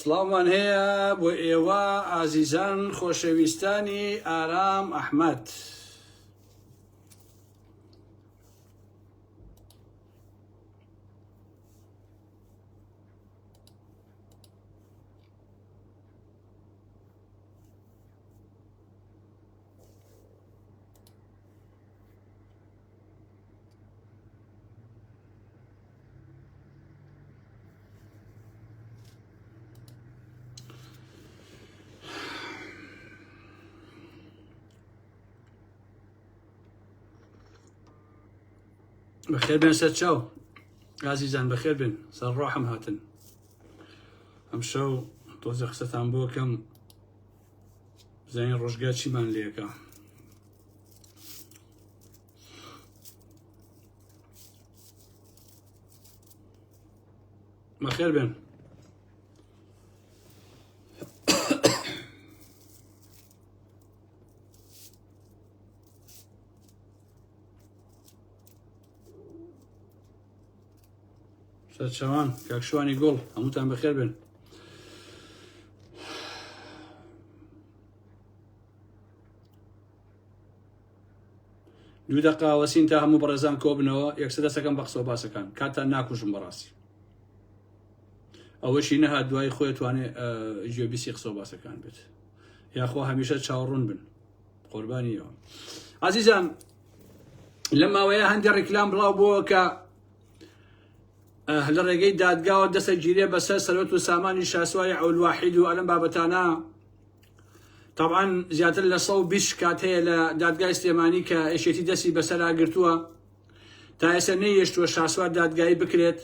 سڵاومان هەیە بۆ ئێوە ئازیزان خۆشەویستانی ئارام ئەحمد. بەخێر بێن سەر چاو ئازیزان بەخێر بێن سەر ڕۆحم هاتن ئەم شەو تۆزە قسەتان بۆکەم بزانین ڕۆژگا چیمان لێکە بەخێر بێن سەرچوان کاک شوانی گوڵ هەمووتان بەخێر بن دوو دەقاوەسین تا هەموو بەڕێزان کۆبنەوە یەکسە دەسەکەم بە قسە باسەکان کاتان ناکوژم بەڕاستی ئەوەشی نەها دوای خۆی توانێ ژێبیسی قسە باسەکان بێت یاخوا هەمیشە چاوڕون بن قوربانیەوە عزیزان لە ماوەیە هەندی ڕیکلام بڵاو بووە کە لە ڕێگەی دادگاوە دەسە گیرێ بەسەر سەرۆت و سامانی شاسوای ئەولواحید و ئەلم بابەتانە طبعاان زیاتر لە 120 کات هەیە لە دادگای سلێمانی کە ئێشێتی دەستی بەسەراگرتووە تا ئێستا نەیەشتووە شاسوار دادگایی بکرێت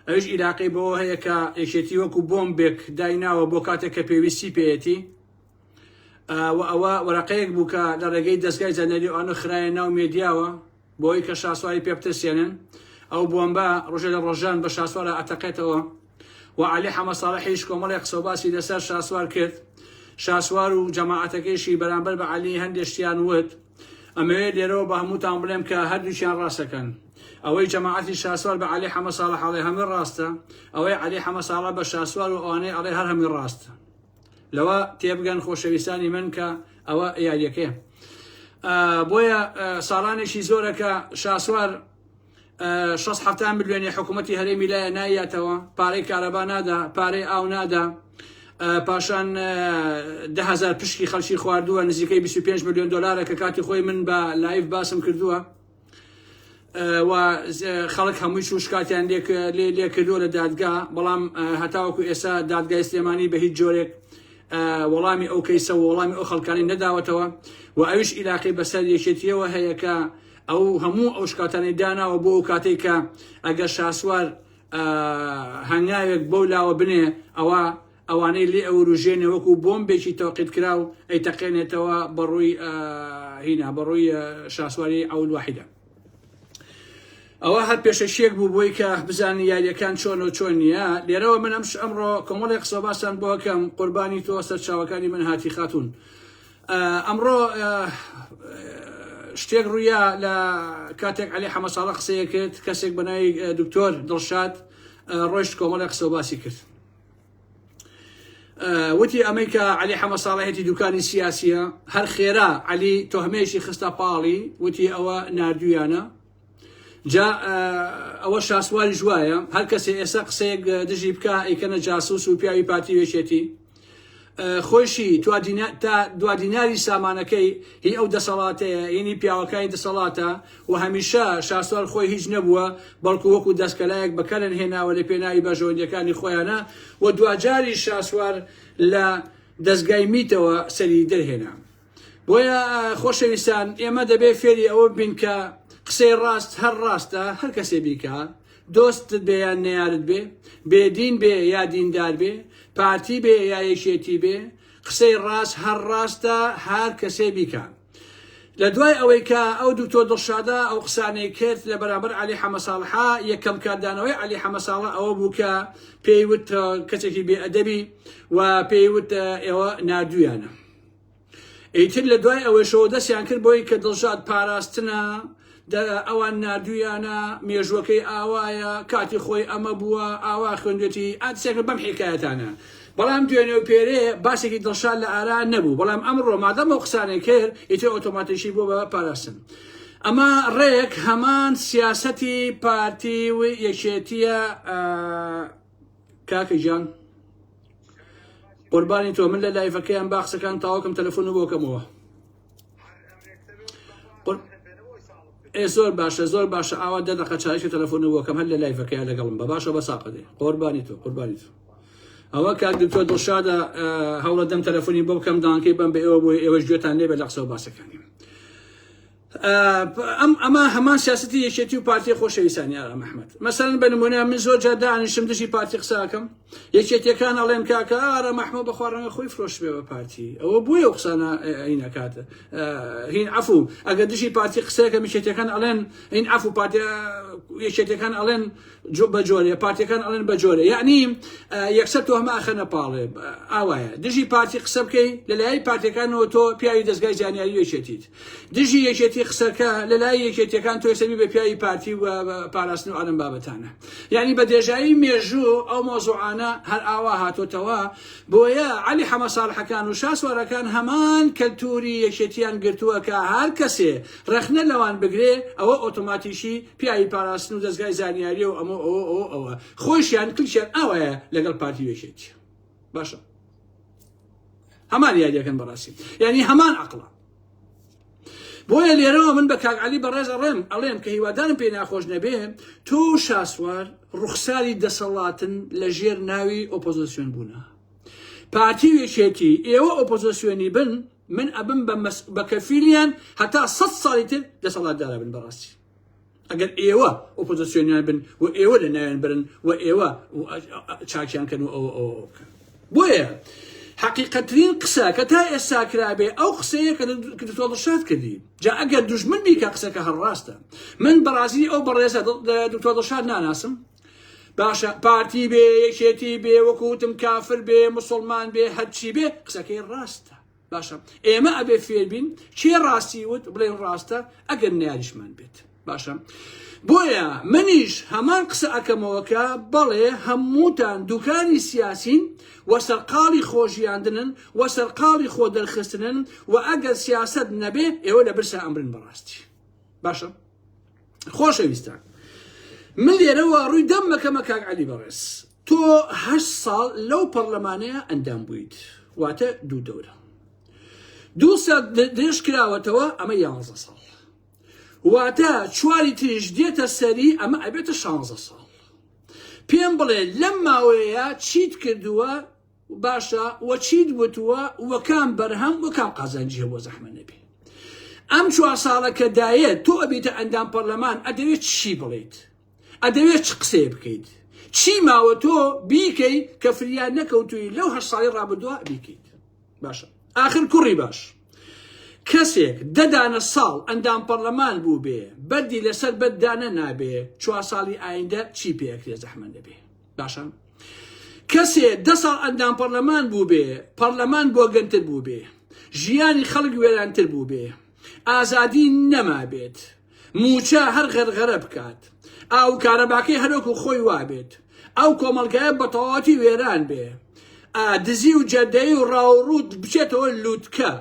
ئەوش عیراقی بەوە هەیە کە ئێشێتی وەکو بۆمبێک دایناوە بۆ کاتێک کە پێویستی پێەتی و ئەوە وەرەقەیەک بوو کە لە ڕێگەی دەستگای زانەری ئەوانە خراە ناو مێدیاوە بۆی کە شاسواری پێ بترسێنن ئەو بۆمبە ڕژە لە ڕۆژان بە شاسوارە ئەتەقێتەوە و علی حەمە ساڵحیش کۆمەڵی قسەباسی لەسەر شاسوار کرد شاسوار و جەماعاتەکەیشی بەرامبەر بە علی هەندێشتیان وت ئەمەوێ لێرەوە بە هەمووتان بڵێم کە هەردووچیان ڕاستەکەن ئەوەی جەماعاتی شاسوار بە علی حەمە ساڵە حاڵێ هەمە ڕاستە ئەوەی علی حەمە ساڵە بە شاسوار و ئەوانەی ئەڵێ هەر هەمی ڕاستە لەوە تێبگەن خۆشەویستانی من کە ئەوە یاریەکەیە بۆیە ساڵانێکی زۆرەکە شاسوار 16 میلیۆنی حکوومەتتی هەرێمی لایە نایەتەوە پارەی کارەبا نادا پارەی ئاو نادا پاشان دههزار پشکی خەلکی خواردووە نزیکەی 25 میلیۆن دلارە کە کاتی خۆی من بە لایف باسم کردووە و خەڵک هەمووی و شکاتیان لێکردوە لە دادگا بەڵام هەتاوەکو ئێستا دادگای سلێمانی بە هیچ جۆرێک وەڵامی ئەو کەیسە وەڵامی ئەو خەڵکانی نەداوەتەوە و ئەوش ئیلاقی بەسەر یەکێتیەوە هەیە کە ئەو هەموو ئەو شکاتانی داناوە بۆ ئەو کاتێک کە ئەگەر شاسوار هەنگاوێک بەو لاوە بنێ ئەوە ئەوانەی لێ ئەوروژێنێ وەکو بۆمبێکی تەوقیتکراو ئەیتەقێنێتەوە بەڕووی هینا بەڕووی شاسواری ئەول واحدە ئەوە هەر پێشەکیەک بوو بۆی کە بزانانی یاریەکان چۆن و چۆن نیە لێرەوە من ئەمش ئەمڕۆ کۆمەڵی قسەباسان بۆکەم قوربانی تۆ سەرچاوەکانی من هاتی خاتون ئەمڕۆ شتێک ڕوویا لە کاتێک علی حەمە ساڵە قسەیە کرد کەسێک بەنای دکتۆر دڵشاد ڕۆشت کۆمەڵی قسەباسی کرد وتی ئەمەی کە علی حەمە ساڵەهێتی دوکانی سیاسیە هەر خێرا علی تۆهمەیەشی خستە پاڵی وتی ئەوە نردویانە جا ئەوە شاسواری ژواە هەر کەسێ ئێستا قسەیەک دژی بکە ئەیکەنە جاسوس و پیاوی پارتی وێشێتی خۆیشی تا دوادیناری سامانەکەی هی ئەو دەسەڵاتەیە، هینی پیاوەکانی دەسەڵاتە و هەمیشە شاسوار خۆی هیچ نەبووە، بەڵکو وەکو دەستکەلایەک بەکەرن هێناوە لە پێناوی بەرژەوەندیەکانی خۆیانە و دواجاریش شاسوار لە دەزگای میتەوە سەری دەرهێنا. بۆیە خۆشەویستان ئێمە دەبێ فێری ئەوە بین کە قسەی ڕاست هەر ڕاستە هەر کەسێ بیکە دۆستت بێ یان نەیارت بێ بێدین بێ یا دیندار بێ پارتی بێ یا یەکێتی بێ قسەی ڕاست هەر ڕاستە هەر کەسێ بیکە لە دوای ئەوەی کە ئەو دکتۆر دڵشادا ئەو قسانەی کرد لە بەرامبەر علی حەمەساڵحا یەکەم کاردانەوەی علی حەمەساڵە ئەوە بوو کە پێیوت کەسێکی بێئەدەبی و پێیوت ئێوە نادویانە ئیتر لە دوای ئەوەشەوە دەستیان کرد بۆی کە دڵشاد پاراستنە ئەوان نردویانە مێژوەکەی ئاوایە کاتی خۆی ئەمە بووە ئاوا خوێندێتی ئاتسێک بەم حکایەتانە بەڵام دوێنێ و پێرێ باسێکی دڵشاد لە ئارا نەبوو بەڵام ئەم ڕۆمادەم و قسانێک کرد ئیتر ئۆتۆماتیشی بۆ بە پاراستن ئەمە ڕێک هەمان سیاسەتی پارتی و یەکێتیە کاکە گیان قوربانی تۆ من لە لایڤەکەیان باخسەکان تاوەکم تەلەفۆن و بۆکەمەوە ئێ زۆر باشە زۆر باشە ئاوا دە دەقە چایشە تەلەفۆن و بۆکەم هەر لە لایڤەکەیان لەگەڵم بە باشە بە ساقەدێ قوربانی تۆ قوربانی تۆ ئەوە کاک دکتۆر دڵشادە هەوڵە دەم تەلەفۆنی بۆ بکەم دانکەی بم بە ئێوە بۆی ئێوەش گوێتان لێ بە لە قسە و باسەکانی ئەم ئەمە هەمان سیاستی یەکێتی و پارتی خۆشەویستانی ئارا مححمد مەسەرن بە نمونە من زۆر جار دانیشم دژی پارتی قساکەم یەکێتیەکان ئەڵێن کاکە ئارا مححمە بە خوارڕەنگە خۆی فرۆش بێ بە پارتی ئەوە بۆیە و قسانە عینەکات هین عفو ئەگە دژی پارتی قسەکە میشێتەکان ئەڵێن این عفو پارتی یەکێتەکان ئەڵێن بەجۆرێ پارتیەکان ئەڵێن بەجۆرێ یعنی یەکسەر تۆ هەمە ئەخەنە پاڵێ ئاوایە دژی پارتی قسە بکەی لەلای پارتەکانەوە تۆ پیاوی دەستگای زانیاری یەکێتیت دژی یەکێتی قسەکە لەلای یەکێتیەکان تۆ سەبی بە پیاوی پارتی و پاراستن و ئەلم بابەتانە یعنی بە دێژایی مێژوو ئەو مۆزوعانە هەر ئاوا هاتۆتەوە بۆیە علی حەمە ساڵحەکان و شاسوارەکان هەمان کەلتوری یەکێتیان گرتووە کە هەر کەسێ ڕەخنە لەوان بگرێ ئەوە ئۆتۆماتیکی پیاوی پاراستن و دەزگای زانیاریە و ئەمە ئەوە ئەوە ئەوە خۆشیان کلچیان ئاوایە لەگەڵ پارتی وێشێت باشە هەمان یاریەکەن بەڕاستی یعنی هەمان عقلە بۆیە لێرەوە من بە کاک علی بەڕێزە ڕێم ئەڵێم کە هیوادارم پێی ناخۆش نەبێ تۆ شاسوار ڕوخساری دەسەڵاتن لە ژێر ناوی ئۆپۆزیسیۆن بوونە پارتی وێشێتی ئێوە ئۆپۆزیسیۆنی بن من ئەبم بە مەس بە کەفیلیان هەتا سەد ساڵی تر دەسەڵاتدارە بن بەڕاستی ئەگەر ئێوە ئۆپۆزیسیۆنیان بن و ئێوە لە ناوێن برن و ئێوە چاکیان کەن و ئەوە ئەوە بکەن بۆیە حقیقەترین قسە کە تا ئێستا کرابێ ئەو قسەیە کە دکتۆڵشاد کردی جا ئەگەر دوژمن بیکە قسەکە هەڕاستە من بەڕازی ئەو بەڕێزە دکتۆڵشاد ناناسم باشە پارتی بێ یەکێتی بێ وەکوتم کافر بێ مسلمان بێ هەرچی بێ قسەکەی ڕاستە باشە ئێمە ئەبێ فێربین کێ ڕاستی وت بڵێن ڕاستە ئەگەر نیاریشمان بێت باشە بۆیە منیش هەمان قسە ئەەکەمەوەکە بەڵێ هەمووتان دوکانی سیاسین و سەرقاڵی خۆژیاندنن و سەرقاڵی خۆ دەرخستنن و ئەگەر سیاست نەبێ ئێوە لە برسا ئەمرن بەڕاستی باشە خۆشەویستان من لێرەوە ڕووی دەم مەکەمە کاک علی بەڕێز تۆ هە ساڵ لەو پەرلەمانەیە ئەندام بوویت واتە دوو دەورە دوو سات درێژ کراوەتەوە ئەمە یانزە ساڵ واتە چواری تریش دێتە سەری ئەمە ئەبێتە شانزە ساڵ پێم بڵێ لەم ماوەیە چیت کردووە باشە وە چیت وتووە وە کام بەرهەم وە کام قازانجی هەبووە زەحمە نەبێ ئەم چوار ساڵە کە دایە تۆ ئەبیتە ئەندام پەرلەمان ئەدەوێت چی بڵیت ئەدەوێت چ قسەیە بکەیت چی ماوە تۆ بیکەی کە فریان نەکەوتووی لەو هەر ساڵی ڕابدووە بیکەیت باشە آخر کوڕی باش کەسێک دەدانە ساڵ ئەندام پەرلەمان بوو بێ بەردی لەسەر بەدانە نابێ چوار ساڵی ئایندە چی پێکرێ زەحمە نەبێ باشە کەسێ دە ساڵ ئەندام پەرلەمان بوو بێ پەرلەمان بۆگەنتر بوو بێ ژیانی خەڵک وێرانتر بوو بێ ئازادی نەما بێت موچە هەر غەرغەرە بکات ئاو کارەباکەی هەرۆکو خۆی وابێت ئەو کۆمەلگایە بەتەواتی وێران بێ دزی و جەدەی و ڕاوڕوت بچێتەوە لووتکە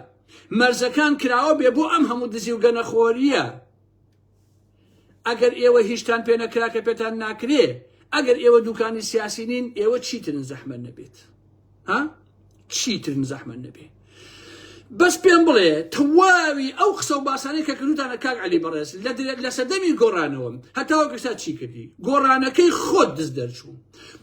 مەرزەکان کراوە بێ بۆ ئەم هەموو دزی و گەنەخۆریە ئەگەر ئێوە هیچتان پێ نەکرا کە پێتان ناکرێ ئەگەر ئێوە دوکانی سیاسی نین ئێوە چیترن زەحمەت نەبێت ها چیترن زەحمەت نەبێت بەس پێم بڵێ تەواوی ئەو قسە و باسانەی کە کردوتانە کاک علی بەڕێز لە لە سەدەمی گۆڕانەوەم هەتاوە گەشتا چی کردی گۆڕانەکەی خۆت دز دەرچوو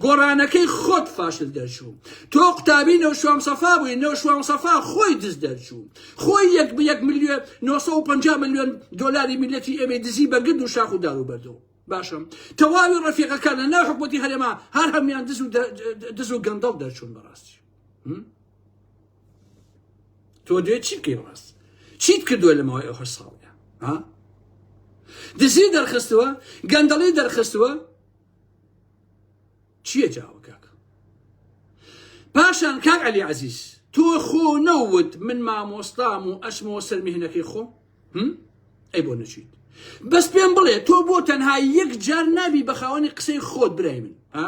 گۆڕانەکەی خۆت فاشل دەرچوو تۆ قوتابی نەوشام سەفا بووی نەوشام سەفا خۆی دز دەرچوو خۆی یەک بە یەک ملیۆن 950 ملیۆن دلاری میلەتی ئێمەی دزی بەگرد و شاخ و دار و بەردەوە باشم تەواوی ڕەفیقەکان لە ناو حکوومەتی هەرێما هەر هەمیان دز و دز و گەندەڵ دەرچوون بەڕاستی تۆ دوێ چی بکەی ڕاست چیت کردووە لە ماوەی ئەو هەر ساڵە دزی دەرخستووە گەندەڵی دەرخستووە چیە جاوە کاکە پاشان کاک علی عزیز تۆ خۆ نەوت من مامۆستام و ئەشمەوە سەر مهنەکەی خۆم ئەی بۆ نەچیت بەس پێم بڵێ تۆ بۆ تەنها یەک جار نابی بە خاوەنی قسەی خۆت برای من ها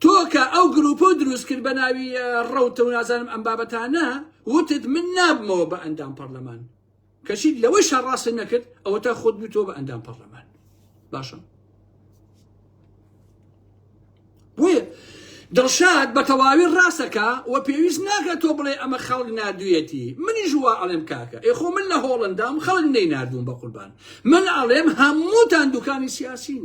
تۆکە ئەو گرروپە و دروست کرد بە ناوی ڕەوتە و نازانم ئەم بابەتانە وتت من نابمەوە بە ئەندام پەرلەمان کەچی لەوەیشا ڕاستت نەکرد ئەوەتا خۆت بوویتەوە بە ئەندام پەرلەمان باشە بۆیە دڵشاد بە تەواوی ڕاستەکە و پێویست ناکە تۆ بڵێ ئەمە خەڵک نردویەتی منی ژوا ئەڵێم کاکە ئێخۆ من لە هۆڵندام خەڵک نەی نردوم بە قوربان من ئەڵێم هەمووتان دوکانی سیاسین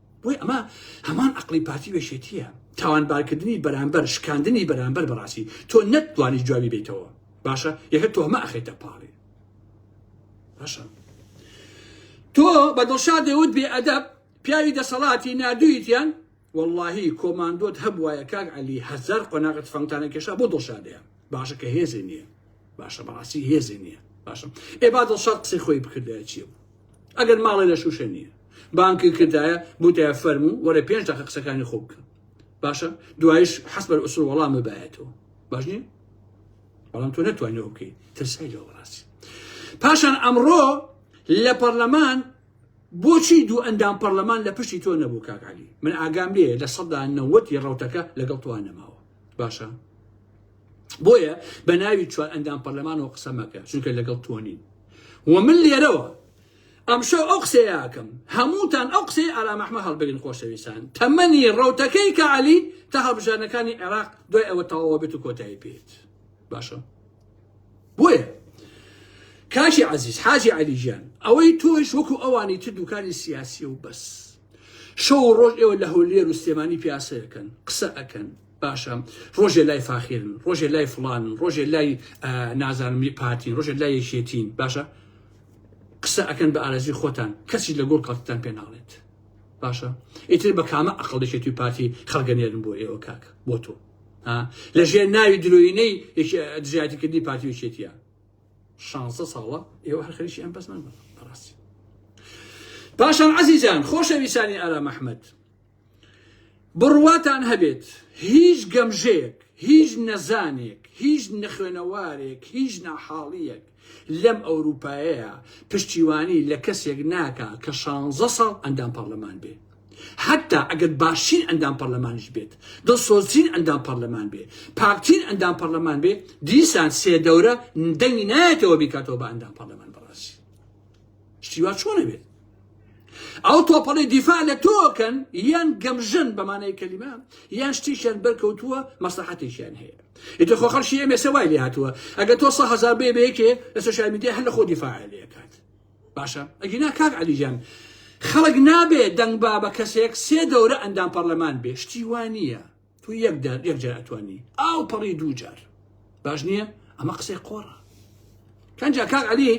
بۆی ئەمە هەمان عقلی پارتی وێشێتیە تاوانبارکردنی بەرامبەر شکاندنی بەرامبەر بەڕاستی تۆ نەتوانی جوابی بیتەوە باشە یەکە تۆ هەمە ئەخێتە پاڵێ باشە تۆ بە دڵشا دەوت بێ ئەدەب پیاوی دەسەڵاتی نادویتیان واللهی کۆماندۆت هەبواە کاک علی هەزار قۆناغت فەنگتانە کێشا بۆ دڵشادەیە باشە کە هێزی نییە باشە بەڕاستی هێزی نییە باشم ئێ با دڵشاد قسەی خۆی بکردایە چی بوو ئەگەر ماڵێ لە شوشە نییە بانکی کردایە بوتایە فەرمو وەرە پێنج دقە قسەکانی خۆ بکە باشە دوایش حەس بەر ئوسر وەڵام ببایەتەوە باش نییە بەڵام تۆ نەتوانەوە بکەیت ترسای لەوە ڕاستی پاشان ئەمڕۆ لە پەرلەمان بۆچی دوو ئەندام پەرلەمان لە پشتی تۆ نەبوو کاکعلی من ئاگام لێ لە سەدا نەوەتی ڕوتەکە لەگەڵ توان نەماوە باشە بۆیە بە ناوی چوار ئەندام پەرلەمانەوە قسە مەکە چونکە لەگەڵ تۆ نین و من لێرەوە ئەمشەو ئەو قسەیەکەم هەمووتان ئەو قسەی ئارامەحمە هەڵبگرن خۆشەویستان تەمەنی ڕوتەکەی کە علی تا هەڵبژانەکانی عێراق دوای ئەوە تەواوە بێت و کۆتایی پێێت باشە بۆیە کاشی عزیز حاجی علی ژیان ئەوەی تۆش وەکو ئەوانی تر دوکانی سیاسی و بەس شەو و ڕۆژ ئێوە لە هەولێر و سلێمانی پیاسەکەن قسە ئەکەن باشە ڕۆژێ لای فاخێرن ڕۆژێ لای فلانن ڕۆژێ لای نازانمی پارتین ڕۆژێ لای یەکێتین باشە قسە ئەکەن بە ئارەزی خۆتان کەسی لە گۆڵ کاتتان پێ ناڵێت باشە ئیتر بە کامە ئەقل دەشێتی و پارتی خەڵگەنێرن بۆ ئێوە کاک بۆ تۆ لەژێر ناوی درۆینەی دژایەتیکردنی پارتی وچێتە 16 ساڵە ئێوە هەر خەریکی ئەم بەزمان بن بەڕاستی پاشان عزیزان خۆشەویستانی ئارا محمد بڕواتان هەبێت هیچ گەمژەیەک هیچ نەزانێک هیچ نەخوێنەوارێک هیچ ناحاڵیەک لەم ئەوروپایەیە پشتیوانی لە کەسێک ناکە کە شانزە ساڵ ئەندام پەرلەمان بێ حەتتا ئەگەر باشترین ئەندام پەرلەمانیش بێت، دڵسۆزترین ئەندام پەرلەمان بێ، پاکترین ئەندام پەرلەمان بێ، دیسان سێ دەورە دەنگی نایەتەوە بیکاتەوە بە ئەندام پەرلەمان بەڕاستی شتی وا چۆن ئەبێت؟ ئەو تۆپەڵی دیفاع لە تۆکەن یان گەمژن بەمانەی کەلیمە یان شتیشیان بەرکەوتووە مەسلحەتێکیان هەیە ئیتر خۆ خەڵکی ئێمێسە وای لێ هاتووە ئەگە تۆ سە هزار بێ بەیەکێ لەسە شامیدی هەر لە خۆ دیفاع لێکات باشە ئەگینا کاک علی جان خەڵک نابێ دەنگ با بە کەسێک سێ دەورە ئەندام پەرلەمان بێ شتی وانە تو یەک دار یەک جار ئەتوانی ئاو پەڕی دوو جار باش نییە ئەمە قسەی قۆڕە کەنجا کاک علی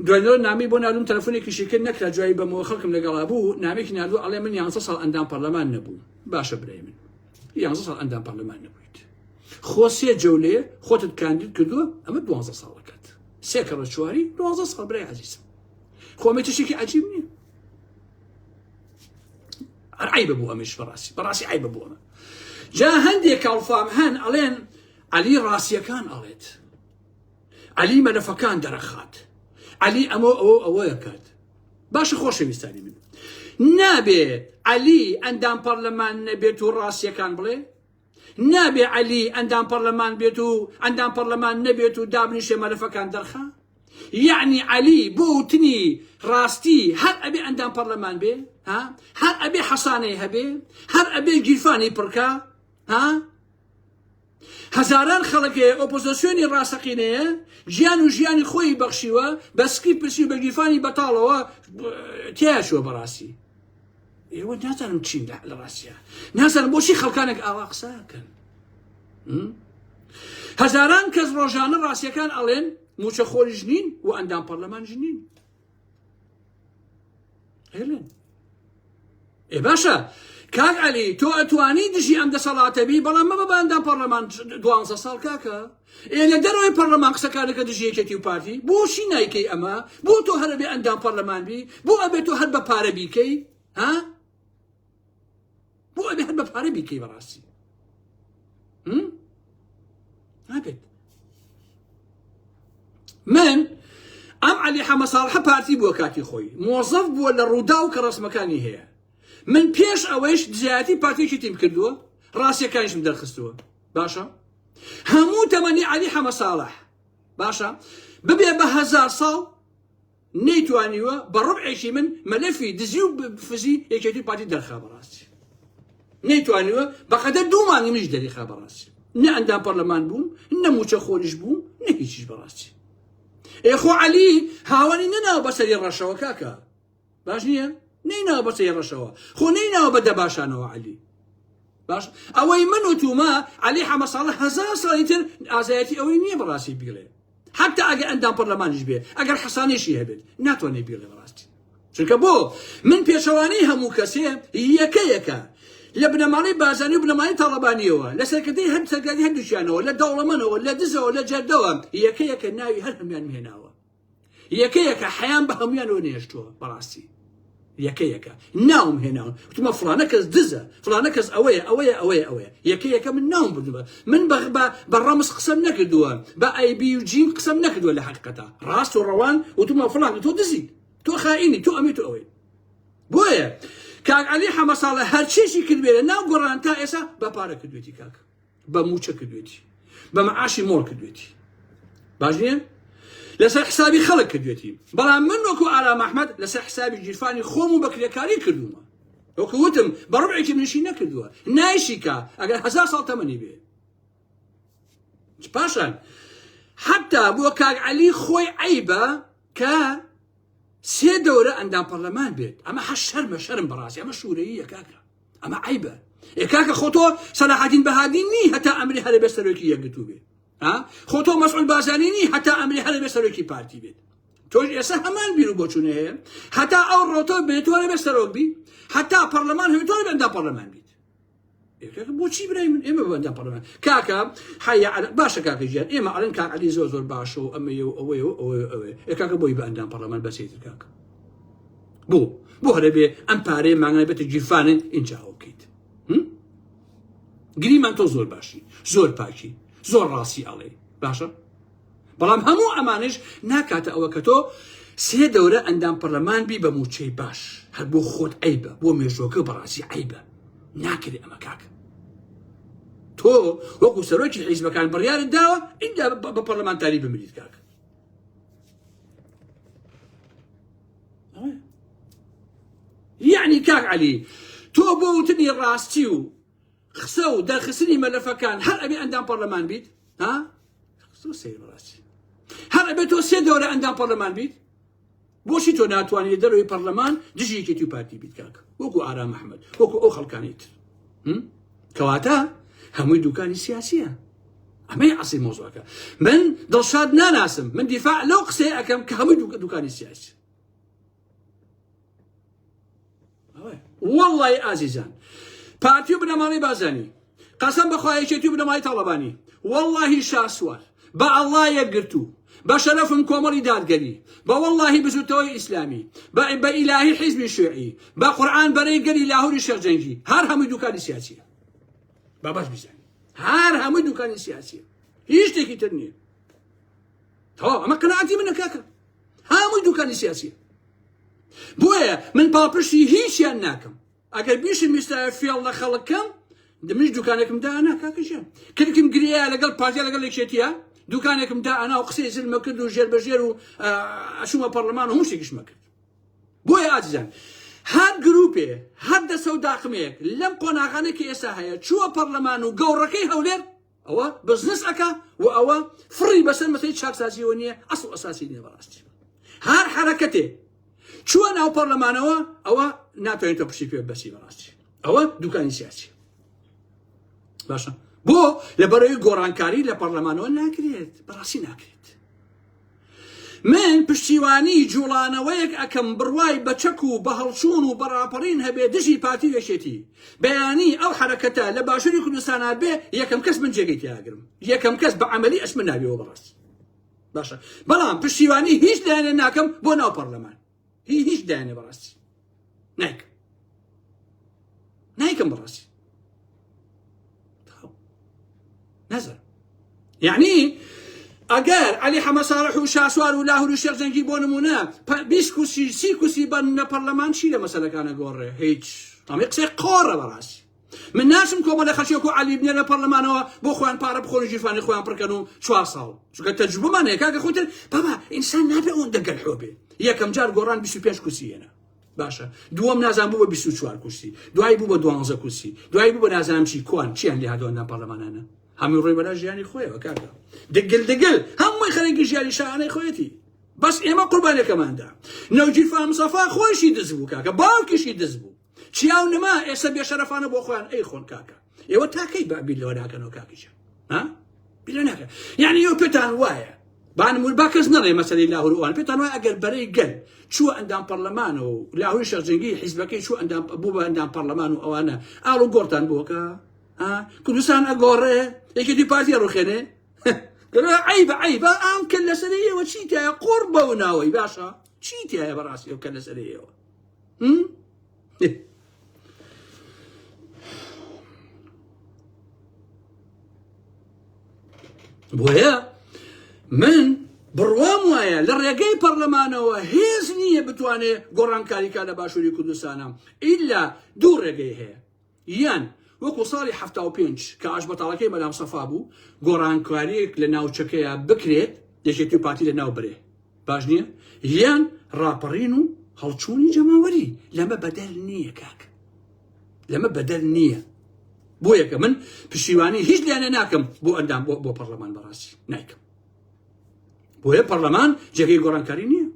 دوێنەوە نامی بۆ نالوم تەلفۆنێکی شیکرد نەکرا جوایی بەمەوە خەڵکم لەگەڵا بوو نامێکی نالو ئەڵێ من یانسە ساڵ ئەندام پەرلەمان نەبوو باشە برای من یانزە ساڵ ئەندام پەرلەمان نەبوویت خۆ سێ جەولێ خۆتت کاندید کردووە ئەمە دوانزە ساڵەکەت سێ کەڕە چواری دوازدە ساڵ برای عزیزم خۆمە تشتێکی عجیب نییە عیب بۆ ئەمش بەڕاستی بەڕاستی عیب بۆ ئەمە جا هەندێک کاڵفام هەن ئەڵێن علی ڕاستیەکان ئەڵێت علی مەلەفەکان دەرەخات علی ئەمە ئەوە ئەوەیە کات باشە خۆشەویستانی من نابێت علی ئەندام پەرلەمان نەبێت و ڕاستیەکان بڵێ نابێ عەلی ئەندام پەڕلەمان بێت و ئەندام پەڕلەمان نەبێت و دابنیشێ مەلەفەکان دەرخا؟ یەعنی عەلی بۆ وتنی ڕاستی هەر ئەبێ ئەندام پەڕلەمان بێ؟ ها؟ هەر ئەبێ حەسانەی هەبێ؟ هەر ئەبێ گیرفانی پڕکا؟ ها؟ هەزاران خەڵکەیە ئۆپۆزۆسیۆنی ڕاستەقینەیە گیان و ژیانی خۆی بەخشیوە بە سکی پرسی و بە گیرفانی بەتاڵەوە تیاچوە بەڕاستی ئێوە نازانم چین لە ڕاستە نازانم بۆچی خەڵکانێک ئاوا قساکەن هەزاران کەس ڕۆژانە ڕاستیەکان ئەڵێن موچە خۆریش نین و ئەندام پەرلەمان ژنین هێلن ئێ باشە کاک علی تۆ ئەتوانی دژی ئەم دەسەڵاتەبی بەڵام مەبە باندان پەرلەمان دوانزە ساڵ کاکە ئێ لە دەرەوەی پەڕلەمان قسەکان دەکە دژی یەکێتی و پارتی بۆ شی نایکەی ئەمە بۆ تۆ هەرە بێ ئەندام پەڕلەمان بی بۆ ئەبێت تۆ هەر بە پارە بیکەی ها بۆ ئەبێ هەر بە پارە بیکەی بەڕاستی نابێت من ئەم علی حەمە ساڵحە پارتی بووە کاتی خۆی مۆزەف بووە لە ڕوودا و کە ڕسمەکانی هەیە من پێش ئەوەیش دزایەتی پارتێکی تیم کردووە ڕاستیەکانیشم دەرخستووە باشە هەموو تەمەنی عەلی حەمەساڵح باشە ببێ بە هەزار ساڵ نەیتوانیوە بە ڕبعێکی من مەلەفی دزی و فزی یەکێتی پارتی دەرخا بەڕاستی نەیتوانیوە بەقەدە دوو مانگی منیش دەریخا بەڕاستی نە ئەندام پەرلەمان بووم نە موچە خۆریش بوو نە هیچیش بەڕاستی ئێخۆ عەلی هاوەنی نەناو بەسەری ڕەشەوە کاکە باش نییە نەیناوە بە سەیڕەشەوە خۆ نەیناوە بە دەباشانەوە علی باش ئەوەی من و توما علی حەمە ساڵە هەزار ساڵی تر ئازایەتی ئەوەی نییە بەڕاستی بیڵێ حتا ئەگە ئەندام پەرلەمانیش بێ ئەگەر حەسانێشی هەبێت ناتوانێ بیڵێ بەڕاستی چونکە بۆ من پێچەوانەی هەموو کەسێ یەکە یەکە لە بنەماڵی بازانی و بنەماڵی تاڵەبانیەوە لە سەرکردی هەند سەرگاری هەردووچیانەوە لە دەوڵەمەنەوە لە دزەوە لە جەردەوە یەکە یەکە ناوی هەر هەمیان هێناوە یەکە یەکە حەیان بە هەمویانەوە نێشتووە بەڕاستی یەکە یەکە ناوم هێناون وتمە فلانە کەس دزە فلانە کەس ئەوەیە ئەوەیە ئەوەیە ئەوەیە یەکە یەکە من ناوم بردوە من بە بە ڕەمز قسەم نەکردووە بە ئایبی و جیم قسەم نەکردووە لە حقیقەتە ڕاست و ڕەوان وتمە فلان تۆ دزی تۆ خائینی تۆ ئەمی تۆ ئەوەی بۆیە کاک علی حەمە ساڵە هەرچێکی کردێ ناو گۆڕان تا ئێسا بە پارە کردوێتی کاک بە موچە کردوێتی بە معاشی مۆر کردوێتی باش نیە لەسەر حسابی خەڵک کردوێتی بەڵام من وەکو ئارام ئەحمد لەسەر حسابی گیرفانی خۆم و بەکرێکاری کردومە وەکو وتم بە ڕوعێکی منشی نەکردووە نایشیکە ئەگەر هزار ساڵ تەمەنی بێ پاشان حتا بۆ کاک علی خۆی عیبە کە سێ دەورە ئەندام پەرلەمان بێت ئەمە هە شەرمە شەرم بەڕاستی ئەمە شوورەیە کاکە ئەمە عیبە ئێ کاکە خۆ تۆ سەلاحەدین بەهادین نی هەتا ئەمری هەرە بێ سەرۆکی یەکگرتوو بێ خۆ تۆ مەسعود بازانی نی هەتا ئەمری هەرە بێ سەرۆکی پارتی بێت تۆش ئێستا هەمان بیر و بۆچوونە هەیە هەتا ئەو ڕۆتۆ بێتوانە بێ سەرۆک بی هەتا پەرلەمان هەوێتوانە بەندا پەرلەمان بی بۆچی برای من ئێمە بەدا پەڕمە کاکە حیا باشە کاکە ژیان ئێمە ئەلن کاک علی زۆر زۆر باشە و ئەمە و ئەوەی و ئەوەی ئەوێ کاکە بۆی بەندان پەڕلەمان بەسێتر کاکە بۆ بۆ هەرە بێ ئەم پارەیە مانگای بێتە گیرفانە ئینجا ئەو بکەیت گریمان تۆ زۆر باشی زۆر پاکی زۆر ڕاستی ئەڵێ باشە بەڵام هەموو ئەمانش ناکاتە ئەوە کە تۆ سێ دەورە ئەندام پەرلەمان بی بە موچەی باش هەر بۆ خۆت عیبە بۆ مێژۆکە بەڕاستی عیبە ناکرێت ئەمە کاکە تۆ وەکو سەرۆکی حیزبەکان بڕیارت داوە ئیندا بە پەرلەمانتاری بمریت کاکە یعنی کاک علی تۆ بۆ وتنی ڕاستی و قسە و دەرخستنی مەلەفەکان هەر ئەبێ ئەندام پەرلەمان بیت ها سەیڕاستی هەر ئەبێ تۆ سێ دەورە ئەندام پەرلەمان بیت بۆچی تۆ ناتوانانی دەروی پەرلەمان دژیکێتی و پارتی بیت کاک وەکو ئارام مححمد وەکو ئەو خەڵکانیت کەواتە هەمووی دوکانی سیاسیە ئەمەی عسی مۆزۆەکە من دڵشاد ناناسم من دیفاع لەو قسەی ئەەکەم کە هەمووی دوکە دوکانی سیاسی واللهی ئازیزان پارتی و بنەماڵی بازانی قەسم بەخوایەکێتی و بنەمای تاڵەبانی واللهی شاسوار بە اللە یەکگرتوو بە شەرەفم کۆمەڵی دادگەری بە وەڵاهی بزوتنەوەی ئیسلامی بە بە ئیلاهی حیزبی شوعی بە قورعان بەرەی گەلی لاهوری شێخ جەنگی هەر هەمووی دوکانی سیاسیە با باش بیزانی هەر هەمووی دوکانی سیاسیە هیچ شتێکی تر نییە تەواو ئەمە قەناعەتی منە کاکە هەمووی دوکانی سیاسیە بۆیە من پاڵپشتی هیچیان ناکەم ئەگەر بیشم ویستایە فێڵ لە خەڵک کەم دمش دوکانێکم دا ئەنا کاکە ژیان کلکم گریا لەگەڵ پارتیا لەگەڵ یەکێتیە دوکانێکم دا ئەنا و قسەی زلمە کرد و ژێر بەژێر و ئەشومە پەرلەمان و هەمشتێکیشمە کرد بۆیە ئازیزان هەر گروپێ هەر دەسە و داخمەیەک لەم قۆناغانێکی ئێستا هەیە چووە پەرلەمان و گەوڕەکەی هەولێر ئەوە بزنس ئەکا و ئەوە فڕی بەسەر مەسەی چاکسازیەوە نییە ئەسڵ ئەساسی نیە بەڕاستی هەر حرەکەتێ چووە ناو پەرلەمانەوە ئەوە ناتوانێت تۆ پشتی پێ بەسی بەڕاستی ئەوە دوکانی سیاسی باشە بۆ لە بەرەوەی گۆڕانکاری لە پەرلەمانەوە ناکرێت بەڕاستی ناکرێت من پشتیوانی جوڵانەوەیەک ئەکەم بڕوای بە چەک و بە هەڵچوون و بە ڕاپەڕین هەبێ دژی پارتی و یەکێتی بەیانی ئەو حەرەکەتە لە باشوری کوردستانا بێ یەکەم کەس من جێگەی تیاگرم یەکەم کەس بە عملی ئەشمە ناویەوە بەڕاست باشە بەڵام پشتیوانی هیچ لایەنە ناکەم بۆ ناو پەرلەمان هی هیچ دانێ بەڕاستی نایکەم نایکەم بەڕاستی نەزر یعنی ئەگەر علی حەمەساڵح و شاسوار و لاهور و شێخجەنگی بۆ نمونە بیست کوسی سی کوسی بەن لە پەرلەمان چی لە مەسەلەکانە گۆڕێ هیچ ئەمە قسەی قۆڕە بەڕاستی من ناچم کۆمەلە خەلکێک و عەلی بنێرنە پەرلەمانەوە بۆ خۆیان پارە بخۆن و گیرفانی خۆیان پڕ کەن و چوار ساڵ چونکە تەجروبەمان هەیە کاکە خۆ تر بابا ئینسان نابێ ئەوەندە گەلحۆ بێ یەکەم جار گۆڕان 25 کورسی هێنا باشە دووەم نازان بوو بە 24 کورسی دوای بوو بە 12 کورسی دوای بوو بە نازانم چی کوان چیان لێ هادواندا پەرلەمانانە هەمووی ڕۆی بەلا ژیانی خۆیەوە کاکە دگل دگل هەمووی خەرێکی ژیانی شانەی خۆیەتی بەس ئێمە قوربانەکەماندا نەوجی فامسەفا خۆشی دز بوو کاکە باوکیشی دز بوو چیا و نما ئێستا بێشەرەفانە بۆ خۆیان ئەی خۆن کاکە ئێوە تاکەی بە بیلەوە ناکەنەوە کاکیشە ها بیلە ناکە یعنی یو پێتان وایە بانمور با کەس نەڵێ مەسەری لاهوروان پێتان وای ئەگەر بەرەی گەل چووە ئەندام پەرلەمانەوە و لاهوی شەرجنگی حیزبەکەی چوو ئەندام بوو بە ئەندام پەرلەمان و ئەوانە ئاڵ و گۆڕتان بۆکە کوردستان ئەگۆڕێ یەکی دی پارتی ڕوخێنێ عیب عیب ئام کە لەسەر ئێوە چیتە قۆڕ بەو ناوەی باشە چی تایە بەڕاستی ئەو کە لەسەرەیەوە بۆیە من بڕوام وایە لە ڕێگەی پەرلەمانەوە هێز نییە بتوانێت گۆڕانکاریکە لە باشووری کوردستانە ئیلا دوو ڕێگەی هەیە یان وەکو ساڵی حەفتا و پێنج کە ئاشبەتاڵەکەی مەلام سەفا بوو گۆڕانکاریەک لە ناوچەکەیا بکرێت یەکێتی و پارتی لە ناو برێ باش نیە یان ڕاپەڕین و هەڵچوونی جەماوەری لەمە بەدەر نیە کاک لەمە بەدەر نیە بۆ یەکە من پشیوانی هیچ لایەنە ناکەم بۆ ئەندام بۆ بۆ پەرلەمان بەڕاستی نایکەم بۆیە پەرلەمان جێگەی گۆڕانکاری نییە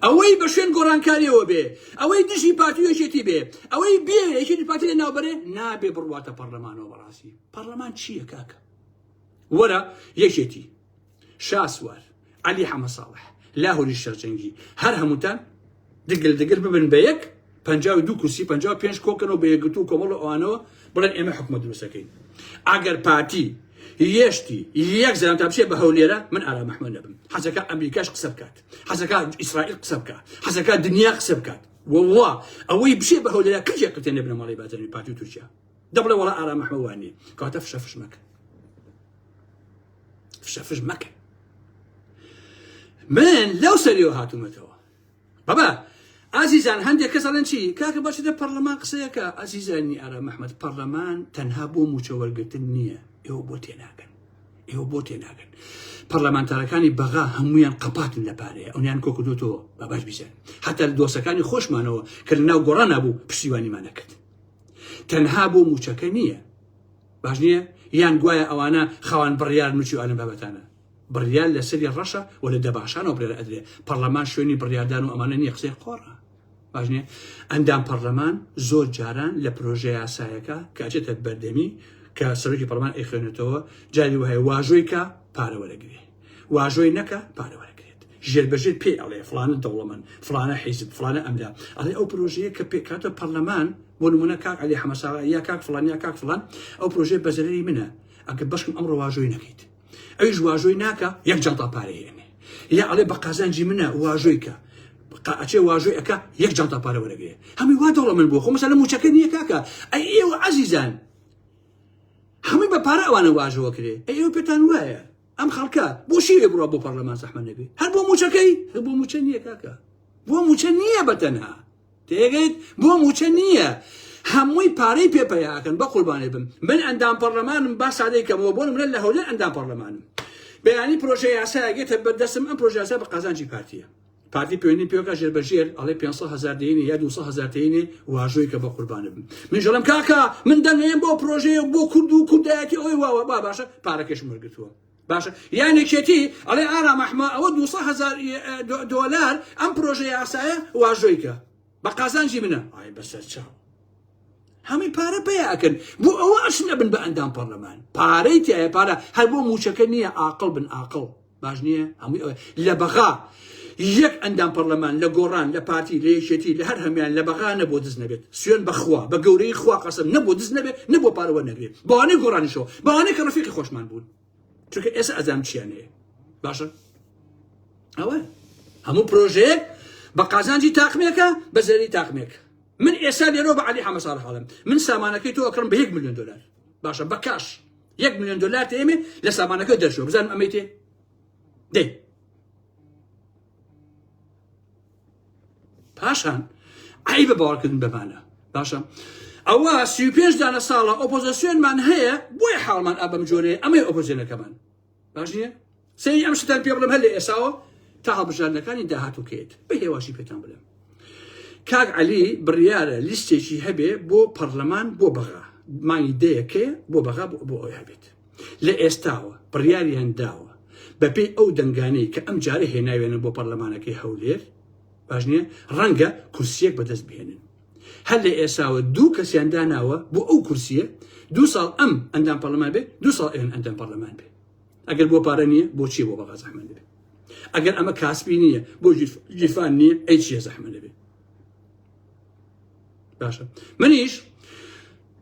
ئەوەی بە شوێن گۆڕانکاریەوە بێ، ئەوەی دژی پارتی و یەکێتی بێ، ئەوەی بیەوێ یەکێتی و پارتی لەناوبەرێ، نابێ بڕواتە پەڕلەمانەوە بەڕاستی. پەڕلەمان چییە کاکە؟ وەرە یەکێتی، شاسوار، عەلی حەمەساڵح، لاهوری شەرجەنگی، هەر هەمووتان دگل دگل ببن بە یەک، پەنجا و دوو کورسی، پەنجا و پێنج کۆکەنەوە بە یەکگرتوو و کۆمەڵ و ئەوانەوە، بڵێن ئێمە حکومەت دروست دەکەین. ئەگەر پارتی، یەشتی، یەک زەلامتان بچێ بە هەولێرە، من ئارام ئەحمەد نەبم. حەزەکا ئەمریکاش قسە بکات. حەزەکات ئیسرائیل قسە بکە حەزەکات دنیا قسە بکات وڵا ئەوەی بشێ بە هەولێرا کەجێ قتێن لە بنەماڵی بازرنی پارتی تورکیا دەبڵێ وڵا ئارام محەوانی کاتە فشە فش مەکە فشە فش مەکە من لەو سەریەوە هاتوومەتەوە بابا ئازیزان هەندێک کەس ئەڵێن چی کاکە باشی دە پەرلەمان قسەیەکە ئازیزانی ئارام مححمد پەرلەمان تەنها بۆ موچەوەرگتن نییە ئێوە بۆ تێناکەن ئێوە بۆ تێناگەن پەرلەمانتارەکانی بەغا هەمویان قەپاتن لە پارەیە ئەویان کۆکردوتەوە بە باش بیزان حتا دۆسەکانی خۆشمانەوە کە لە ناو گۆڕان نبوو پشتیوانیمانەکرد تەنها بۆ موچەکە نییە باش نییە یان گوایە ئەوانە خاوان بڕیار نوچی ئالم بابەتانە بڕیار لەسەری ڕەشە و لە دەباشانەوە بڕێرە ئەدرێ پەرلەمان شوێنی بڕاردان و ئەمانە نیە قسەی قۆڕە باش نییە ئەندام پەڕلەمان زۆر جاران لە پرۆژە یاسایەکە کە ئەچێتە بەردەمی کە سەرۆکی پەڕلەمان ئەیخوێنێتەوە جاری وهەیە واژۆی کە پارە وەرەگرێ واژۆی نەکە پارە وەرەگرێت ژێر بەژێر پێ ئەڵێ فلانە دەوڵەمەن فلانە حیزب فلانە ئەمدا ئەڵێ ئەو پرۆژەیە کە پێکاتە پەرلەمان بۆ نمونە کاک علی حەمەساغا یا کاک فلان یا کاک فلان ئەو پرۆژەیە بەزەرری منە ئەگە بەشکم ئەمڕۆ واژۆی نەکەیت ئەویش واژۆی ناکا یەک جانتا پارەی ئێنێ یا ئەڵێ بە قازانجی منە واژۆی کە ئەچێ واژۆی ئەکا یەک جانتا پارە وەرەگرێ هەمی وا دەوڵە من بۆ خۆ مەسەلە موچەکە نییە کاکە ئەی ئێوە عەزیزان هەمووی بە پارە ئەوانە واژەوە کرێ ئێوە پێتان وایە ئەم خەڵکە بۆ شیوێ بڕە بۆ پەرلەمان زەحمە نەبێ هەر بۆ موچەکەی هەر بۆ موچە نییە کاکە بۆ موچە نییە بە تەنها تێگەیت بۆ موچە نییە هەمووی پارەی پێ پەیاکەن بە قوربانێ بم من ئەندام پەرلەمانم با سادەی کەمەوە بۆ منە لە هەولێر ئەندام پەرلەمانم بەیانی پرۆژە یاسایەگەێتە بەردەسم ئەم پرۆژاسا بە قازانجی پارتیە پارتی پێوەنی پێوەکە ژێر بەژێر ئەڵێ 500 هزار دێنێ یا 200 هزار دێنێ واژۆی کە بە قوربانە بم منژڵم کاکە من دەنێم بۆ پرۆژەیە بۆ کورد و کوردایەتی ئەوەی واوە با باشە پارەکەش مرگتووە باشە یان یەکێتی ئەڵێ ئارام ئەحمە ئەوە دوو سەد هەزار دۆلار ئەم پرۆژە یاسایە واژۆی کە بە قازانجی منە ئای بەسەر چاو هەمووی پارە پێ ئەکەن بۆ ئەوە ئەشن ئەبن بە ئەندام پەرلەمان پارەی تایە پارە هەر بۆ موچەکە نییە ئاقل بن ئاقل باش نییە هەمووی ئەوە لە بەغا یەک ئەندام پەڕلەمان لە گۆڕان لە پارتی لە یەکێتی لە هەر هەمویان لە بەغا نەبوە دز نەبێت سوێن بە خوا بە گەورەی خوا قەسەم نەبوە دز نەبێت نەبوە پارە وەرنەگرێ بەوانەی گۆڕانیشەوە بەوانەی کە ڕەفیقی خۆشمان بوون چونکە ئێستا ئەزام چیان هەیە باشە ئەوە هەموو پرۆژەیەک بە قازانجی تاقمێکە بە زەری تاقمێک من ئێستا لێرۆ بە علی حەمە ساڵ حاڵم من سامانەکەی تۆ ئەکڕم بە 1 میلیۆن دلار باشە بە کاش 1 میلیۆن دلار تێمێ لە سامانەکە دەرشەوە بزانم ئەمەی تێ دەی پاشان ئەی بە باوەڕکردن بەمانە باشە ئەوە سی پێنج دانە ساڵە ئۆپۆزیسیۆنمان هەیە بۆی حاڵمان ئەبم جۆرێ ئەمەی ئۆپۆزیۆنەکەمان باش نیە سەری ئەم شتان پێ بڵم هەر لە ئێساوە تا هەڵبژاردنەکانی داهاتوکێت بە هێواشی پێتان بڵێم کاک علی بڕیارە لیستێکی هەبێ بۆ پەرلەمان بۆ بەغا مانگی دەیەکەیە بۆ بەغا بۆ ئەوی هەبێت لە ئێستاوە بڕیاریان داوە بەپێی ئەو دەنگانەی کە ئەمجارە هێناویانە بۆ پەرلەمانەکەی هەولێر، باش نییە، ڕەنگە کورسییەک بەدەست بهێنن. هەر لە ئێساوە دوو کەسیان داناوە بۆ ئەو کورسییە، دوو ساڵ ئەم ئەندام پەرلەمان بێ، دوو ساڵ ئەوێن ئەندام پەرلەمان بێ. ئەگەر بۆ پارە نییە، بۆ چییە بۆ بەغا زەحمەت دەبێ؟ ئەگەر ئەمە کاسبی نییە، بۆ گیرفان نییە، ئەی چییە زەحمەت دەبێ؟ باشە منیش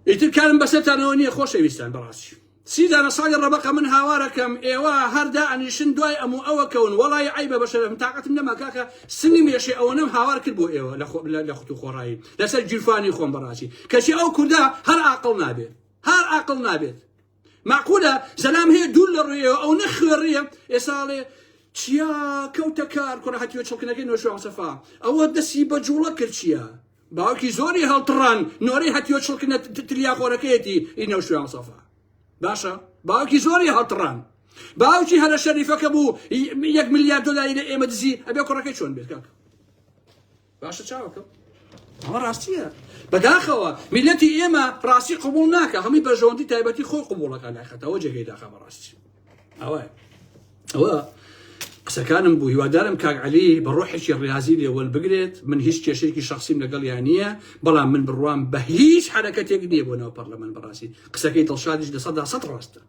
ئیتر کارم بەسەرتانەوە نییە خۆشەویستان بەڕاستی سیدانە ساڵی ڕەبقە من هاوارەکەم ئێوە هەردا ئەنیشن دوای ئەم و ئەوە کەون وڵی عیبە بەشەرم تااقتم نەما کاکە سنگم یەشێ ئەوە نەم هاوار کرد بۆ ئێوە لە خۆت و خۆڕایی لەسەر گیرفانی خۆم بەڕاستی کەچی ئەو کووردا هەر ئاقل نابێت هەر ئاقل نابێت مەعقولە زەلام هەیە دوور لە ڕێیە ئەونە خوێڕیە ئێسا ئەڵێ چیا کەوتە کار کوڕە هەتیوە چڵکنەکەی نۆشوان مستەفا ئەوە دەسی بە جوڵە کرد چیە باوکی زۆری هەڵتڕان نۆرەی هەتیوە چڵکنە تلیاخۆرەکەیەتی ئی نەوشوان مستەفا باشە باوکی زۆری هەڵتڕان باوکی هەرە شەریفەکە بوو یەک ملیار دلاری لە ئێمە دزی ئەبێ کوڕەکەی چۆن بێت کاکە باشە چاوەکەم ئەمە ڕاستیە بەداخەوە میلەتی ئێمە ڕاستی قوبول ناکە هەمووی بەژەوەندی تایبەتی خۆی قوبولەکە ناخەتەوە جێگەی داخە بە ڕاستی ئەوە ئەوە قسەکانم بوو هیوادارم کاک علی بە ڕۆحێکی ڕاضی لێوەل بگرێت من هیچ کێشێکی شخصیم لەگەڵ یان نییە بەڵام من بڕوام بە هیچ حرەکەتێک نییە بۆ ناو پەرلەمان بەڕاستی قسەکەی دڵشادیش لە سەدا سەد ڕاستە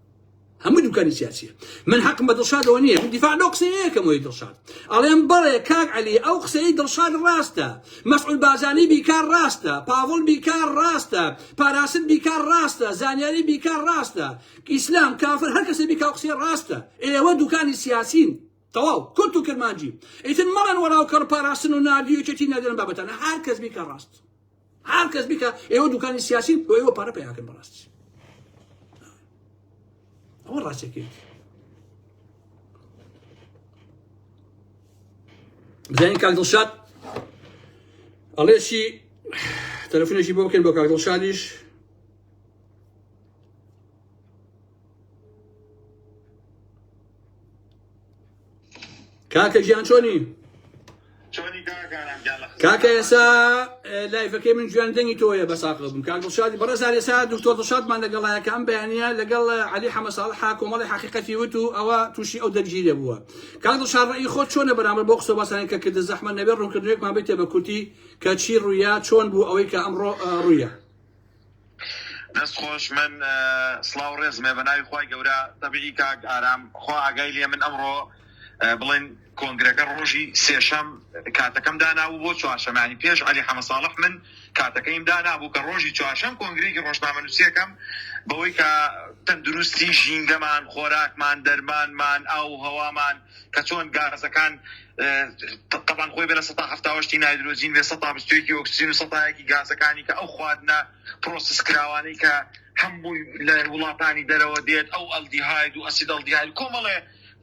هەموو دوکانی سیاسیە من حەقم بە دڵشاد ئەوە نییە من دیفاع لەو قسەیەکەم وی دڵشاد ئەڵێم بەڵێ کاک علی ئەو قسەی دڵشاد ڕاستە مەسعود بازانی بیکار ڕاستە پاڤڵ بیکار ڕاستە پاراست بیکار ڕاستە زانیاری بیکار ڕاستە ئیسلام کافر هەر کەسە بیکاو قسەی ڕاستە ئێوە دوکانی سیاسین تەواو کورت و کرمانجی ئیتر مەڵەن وەڵاو کەڕ پاراستن و ناردی و چێتی نەدەن بابەتانە هەر کەس بیکە ڕاست هەر کەس بیکا ئێوە دوکانی سیاسین بۆ ئێوە پارە پیاکەن بەڕاستی ئەوە ڕاستەکەی بزانین کاک دڵشاد ئەڵێشی تەلەفۆنێکی بۆ بکەن بۆ کاک دڵشادیش کاکە گیان چۆنی کاکە ئێسا لایفەکەی من جوان دەنگی تۆیە بە ساقل بم کاک دڵشادی بەڕێزان ئێسا دکتۆر دڵشادمان لەگەڵایەکە ئەم بەیانە لەگەڵ علی حەمە ساڵح کۆمەڵی حقیقەتی وت و ئەوە تووشی ئەو دەرگیرێ بووە کاک دڵشاد ڕێی خۆ چۆنە بەرامبەر بۆ قسە باسانی کە کردە زەحمە نەبێ ڕوونکردنێکمان بێتێ بە کورتی کە چی ڕوویا چۆن بوو ئەوەی کە ئەمڕۆ ڕوویە دەست خۆش من سڵاو ڕێزمێ بە ناوی خی گەورە تەبیی کاک ئارام خوا ئاگای لێ من ئەمڕۆ بڵێن کۆنگرەکە ڕۆژی سێشەم کاتەکەم داناو بۆ چوارشەمانی پێش علی حەمە ساڵح من کاتەکەیم دانابوو کە ڕۆژی چوارشەم کۆنگرێکی ڕۆژنامە نووسەکەم بەوەی کە تەندروستی ژینگەمان خۆراکمان دەرمانمان ئاو هەوامان کە چۆن گازەکان تەبان خۆی بەە سەتا هەفتاوەشتی نایدرۆزین بێ سەتا بستێکی ئۆکسسین و سەتایەکی گازەکانی کە ئەو خواردنە پرۆسس کراوانەی کە هەم بووی لە وڵاتانی دەرەوە دێت ئەو ئەلدی هاید و ئەسید ئەلدی هاید کۆمەڵێ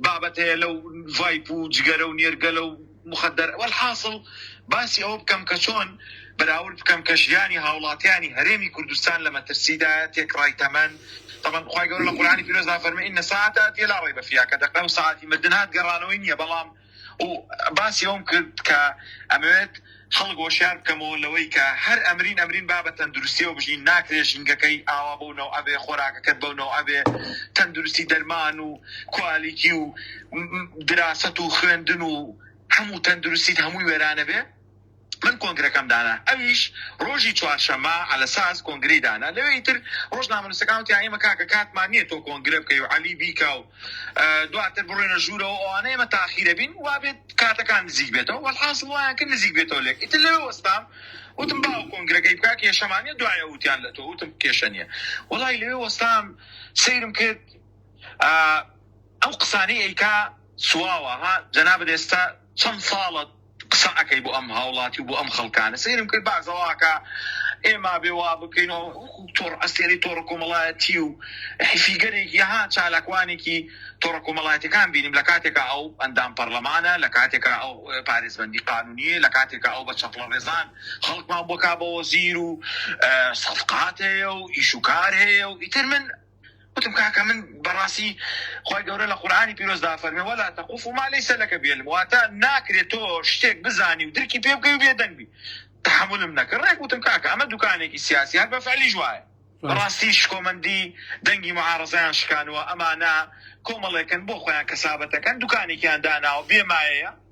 بابەت هەیە لەو ڤایپ و جگەرە و نێرگەلە و مخدر والحاصل باسی ئەوە بکەم کە چۆن بەراورد بکەم کە ژیانی هاوڵاتیانی هەرێمی کوردستان لە مەترسیدایە تێکڕای تەمەن تەمەن خوای گەورە لە قورئانی پیرۆزدا فەرمووی ان الساعە آتیە لا ریب فیها کە دەقە و سەعاتی مردن هات گەڕانەوەی نییە بەڵام و باسی ئەوم کرد کە ئەمەوێت خەڵک هۆشیار بکەمەوە لەوەی کە هەر ئەمرین ئەمرین با بە تەندروستیەوە بژین ناکرێ ژینگەکەی ئاوا بەو نەوعە بێ خۆراکەکەت بەو نەوعە بێ تەندروستی دەرمان و کوالیتی و م- م- دراست و خوێندن و هەموو تەندروستیت هەمووی وێرانە بێ من کۆنگرەکەم دانا ئەویش ڕۆژی چوارشەمە عەلەساس کۆنگرەی دانا لەوێ ئیتر ڕۆژنامەنووسەکان وتیان ئێمە کاکە کاتمان نییە تۆ کۆنگرە بکەی و عەلی بیکا و ئە، دواتر بڕۆینە ژوورەوە ئەوانە ئێمە تاخیرە بین وابێت کاتەکان نزیک بێتەوە وەڵحاسڵ وایان کرد نزیک بێتەوە لێک ئیتر لەوێ وەستام وتم باوە کۆنگرەکەی بکا کێشەمان نییە دوایە وتیان لە تۆ وتم کێشە نییە وەڵای لەوێ وەستام سەیرم کرد ئا، ئەو قسانەی ئەیکا سواوە ها جەنابت ئێستا چەند ساڵە قسە ئەکەی بۆ ئەم هاوڵاتی و بۆ ئەم خەڵکانە سەیرم کرد بەعس ئەڵاکا ئێمە ئەبێ وا بکەین و وەکوو تۆڕ ئەستێرەی تۆڕە کۆمەڵایەتی و فیگەرێکی ها چالاکوانێکی تۆڕە کۆمەڵایەتیەکان بینیم لە کاتێکا ئەو ئەندام پەرلەمانە لە کاتێکا ئەو پارێزبەندی قانونیە لە کاتێکا ئەو بە چەپڵە ڕێزان خەڵکمان بۆ کا بە وەزیر و سەفقات هەیە و ئیش و کار هەیە و ئیتر من وتم کاکە من بەڕاستی خوای گەورە لە قورئانی پیرۆزدا فەرمی ولا تقف ما لیس لک به علم واتە ناکرێت تۆ شتێک بزانی و درکی پێ بکەی و بێدەنگ بی تحملم نەکرد ڕێک وتم کاکە ئەمە دوکانێکی سیاسی هەر بە فعلیش وایە بەڕاستی شکۆمەندی دەنگی معارەزەیان شکانوە ئەمانە کۆمەڵێکن بۆ خۆیان کەسابەتەکەن دوکانێکیان داناوە بێ مایەیە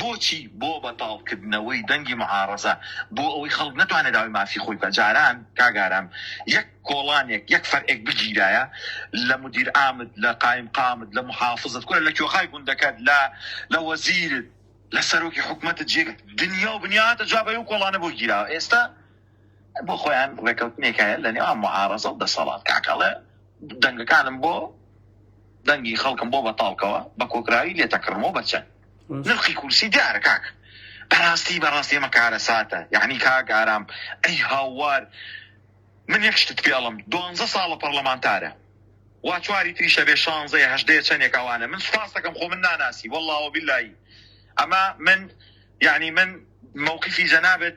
بۆچی؟ بۆ بەتاڵ کردنەوەی دەنگی معارەزە، بۆ ئەوەی خەڵک نەتوانێ داوای مافی خۆی بکا، جاران کاک ئارام یەک کۆڵانێک یەک فەرعێک بگیرایە لە مدیرعامت لە قایمقامت لە محافزت کورە لە کۆخای گوندەکەت لە لە وەزیرت لە سەرۆکی حکومەتت جێ دنیا و بنیاتە جوابەی ئەو کۆڵانە بۆ گیراوە ئێستا بۆ خۆیان ڕێکەوتنێک هەیە لە نێوان معارەزە و دەسەڵات کاکەڵێ دەنگەکانم بۆ دەنگی خەڵکم بۆ بەتاڵکەوە بە کۆکراوی لێتەکڕمەوە بەچەند نرخی کورسی دیارە کاک بەڕاستی بەڕاستی ئەمە کارە ساتە یعنی کاک ئارام ئەی هاوار من یەک شتت پێڵم دوانزە ساڵە پەرلەمانتارە وا چواری تریشە بێ شانزەیە هەشدەیە چەندێک ئەوانە من سپاس دەکەم خۆ من ناناسی واللهەوە باللهی ئەمە من یعنی من مووقفی جەنابێت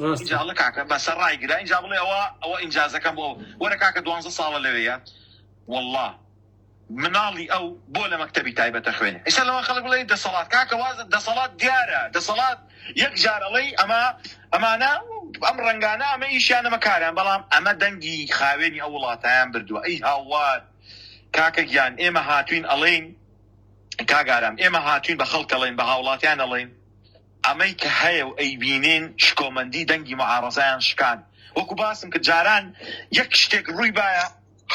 ڕاستە. ئینجا ئەڵێ کاکە بەسە ڕایگرە ئینجا بڵێ ئەوە ئەوە ئینجازەکەم بۆ وەرە کاکە دوانزە ساڵە لەوێیە وەڵا مناڵی ئەو بۆ لە مەکتەبی تایبەتە خوێنێ ئیستا لەوە خەڵک بڵێ دەسەڵات کاکە واز دەسەڵات دیارە دەسەڵات یەک جار ئەڵێی ئەمە ئەمانە ئەم ڕەنگانە ئەمە ئیشیان ئەمە کاران بەڵام ئەمە دەنگی خاوێنی ئەو وڵاتیان بردووە ئەی هاوار کاکە گیان ئێمە هاتوین ئەڵێین کاگارام ئێمە هاتوین بە خەڵکەڵێن بە هاوڵاتیان ئەڵێین ئەمەی کە هەیە و ئەیبینین شکۆمەندی دەنگی معارەزەیان شکان. وەکو باسم کرد جاران یەک شتێک رووی بایە،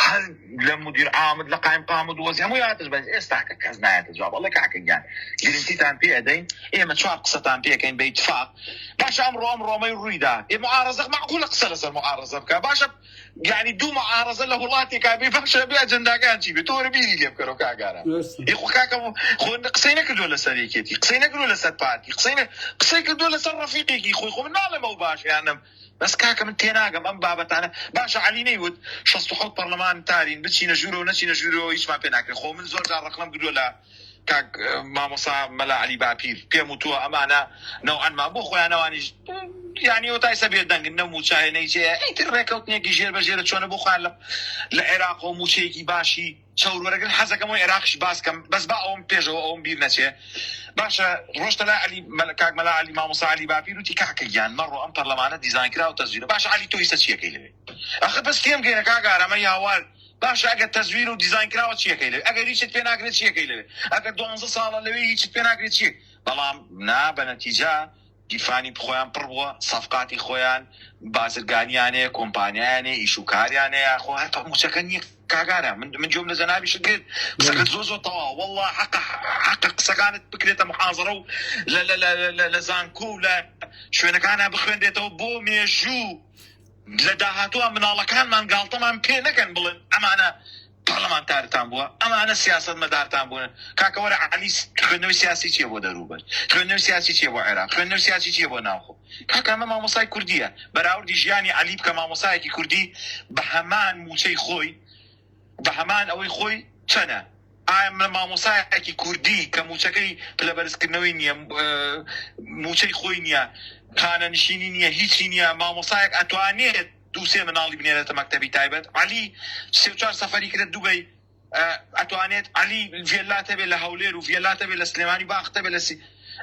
هەر لە مودیر عامد لە قایم قامد و وەزی هەمووی هاتش بەس ئێستاکە کەس نایەتە جواب. ئەڵێ کاکە گیان گرنتیتان پێ ئەدەین ئێمە چوار قسەتان پێ ئەکەین بە ئیتفاق باشە ئەمڕۆ ئەم رۆمەی رووی دا ئێ معارەزە مەعقولە قسە لەسەر معارەزە بکا باشە یانی دوو معارەزە لە وڵاتێکا بێ باشە بێ ئەجەنداکان چی بێ تۆ وەرە بیری لێ بکەرەوە کاک ئارام درستە. یخو کاکە خۆ قسەی نەکردووە لەسەر یەکێتی قسەی نەکردووە لەسەر پارتی قسەی نە- قسەی کردووە لەسەر ڕەفیقێکی خۆی خۆ من ناڵێم ئەو باشە یان نەم بەس کاکە من تێناگەم ئەم بابەتانە باشە علی نەیوت 67 پەرلەمانتارین بچینە ژوورەوە نەچینە ژوورەوە هیچمان پێ ناکرێ خۆ من زۆر جار ڕەخنەم کردووە لە کاک مامۆسا مەلا عەلی باپیر پێم وتووە ئەمانە نەوعەن ما بۆ خۆیان ئەوانیش یعنی و تایسە بێدەنگن نە موچایە نەیجێ ئیتر ڕێکەوتنێکی ژێر بە ژێرە چۆنە بۆ خۆیان لە لە عێراق و موچەیەکی باشی چەور وەرەگرن حەزەکەم و عێراقیش باسکەم بەس با ئەوم پێشەوە ئەوم بیر نەچێ باشە ڕۆشتە لای عەلی مەلا کاک مەلا عەلی مامۆسا عەلی باپیر وتی کاکە گیان مەڕۆ ئەم پەرلەمانە دیزاین کرا و تەزویرە باشە عەلی تۆ ئیستا چیەکەی لەوێ ئەخە بەس تێم گەیەنە کاک ئارامە یاوار باشە ئەگەر تەزویرە و دیزاین کراوە چی ئەکەی لەوێ ئەگەر هیچت پێ ناکرێ چی ئەکەی لەوێ ئەگەر دوانزە ساڵە لەوێ هیچت پێ ناکرێ چی بەڵام نا بە نەتیجە گیرفانی خۆیان پڕ بووە سەفقاتی خۆیان بازرگانیان هەیە کۆمپانیایان هەیە ئیش و کاریان هەیە خۆ هەر موچەکە نییە کاگارە من من جۆم لە جەنابیشت کرد قسەکەت زۆر زۆر تەواو والله حق حق قسەکانت بکرێتە محاضرە و لە لە لە لە لە زانکۆ و لە شوێنەکانە بخوێنرێتەوە بۆ مێژوو لە داهاتووا مناڵەکانمان گاڵتەمان پێ نەکەن بڵێن ئەمانە پەڕلەمانتارتان بووە ئەمانە سیاسەتمەدارتان بوون کاکە وەرە عەلی خوێندنەوەی سیاسی چیە بۆ دەرووبەر خوێندنەوەی سیاسی چیە بۆ عێراق خوێندنەوەی سیاسی چیە بۆ ناوخۆ کاکە ئەمە مامۆستای کوردیە بەراوردی ژیانی عەلی بکە مامۆستایەکی کوردی بە هەمان مووچەی خۆی بە هەمان ئەوەی خۆی چەنە ئایا من مامۆستایەکی کوردی کە مووچەکەی پلە بەرزکردنەوەی نییە، مووچەی خۆی نییە، خانەنشینی نییە، هیچی نییە، مامۆستایەک ئەتوانێت دوو سێ مناڵی بنێرێتە مەکتەبی تایبەت؟ عەلی سێ چوار سەفەری کرد دوبەی، ئەتوانێت عەلی ڤێللا هەبێت لە هەولێر و ڤێللا هەبێت لە سلێمانی، باخت هەبێت لە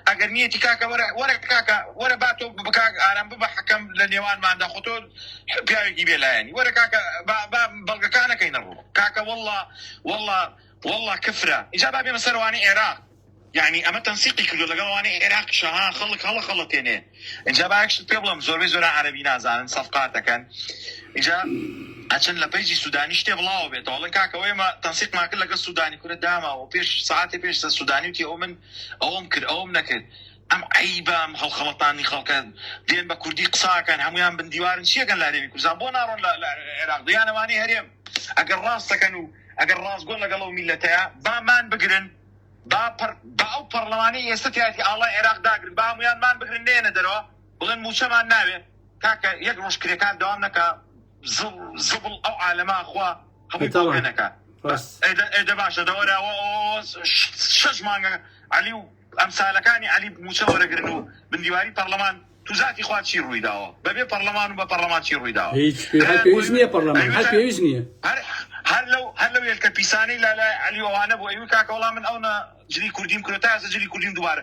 ئەگەر نیەتی کاکە وەرە وەرە کاکە وەرە با تۆ بە کاک ئارام ببە حەکەم لە نێوانماندا خۆ تۆ پیاوێکی بێ لایەنی وەرە کاکە با با بەڵگەکانەکەینە ڕوو کاکە واللە واللە واللە کفرە ئیجا با بێمە سەر ئەوانەی عێراق یعنی ئەمە تەنسیقی کردو لەگەڵ ئەوانەی عێراق شەها خەڵک هەڵەخەڵەتێنێ ئیجا با یەکشت پێ بڵێم زۆربەی زۆرە عەرەبی نازانن سەفقاتەکەن ئیجا ئەچن لە پەیجی سودانی شتێ بڵاوە بێتەوە ئەڵێن کاکە وەیە مە تەنسیقمان کرد لەگەڵ سودانی کورە داماوە پێش سەعاتێ پێش سە سودانی وتی ئەوە من ئەوەم کرد ئەوەم نەکرد ئەم عەیبە ئەم هەڵخەڵەتاندنی خەڵکە دێن بە کوردی قساکەن هەموویان بن دیوارن چیەکەن لە هەرێمی کوردستان بۆ ناڕۆن لە عێراق دەیان ئەوانەی هەرێم ئەگەر ڕاستەکەن و ئەگەر ڕاستگۆن لەگەڵ ئەو میلەتەیە با مان بگرن با پەر با ئەو پەڕلەمانەی ئێستە تیاتی ئاڵای عێراق داگرن با هەموویان مان بگرن نێنە دەرەوە بڵێن موچەمان ناوێ کاکە یەک ڕۆژ کرێکار دەوام نەکا زبڵ ئەو عالەمە خوا هەبووەکە ئێدە باشە دەوەراوە شەش مانگە علی و ئەمسالەکانی علی موچە وەرەگرن و بندیواری پەرلەمان توزاتی خوا چی ڕووی داوە بەبێ پەرلەمان و بە پەرلەمان چی ڕووی داوە هەر لەو هەر لەو یەکە پیسانی لەلای علیوانە بۆ ئەوی کاکەوەڵام من ئەوە جلی کوردیم کرۆتازە جلی کوردیم دووارە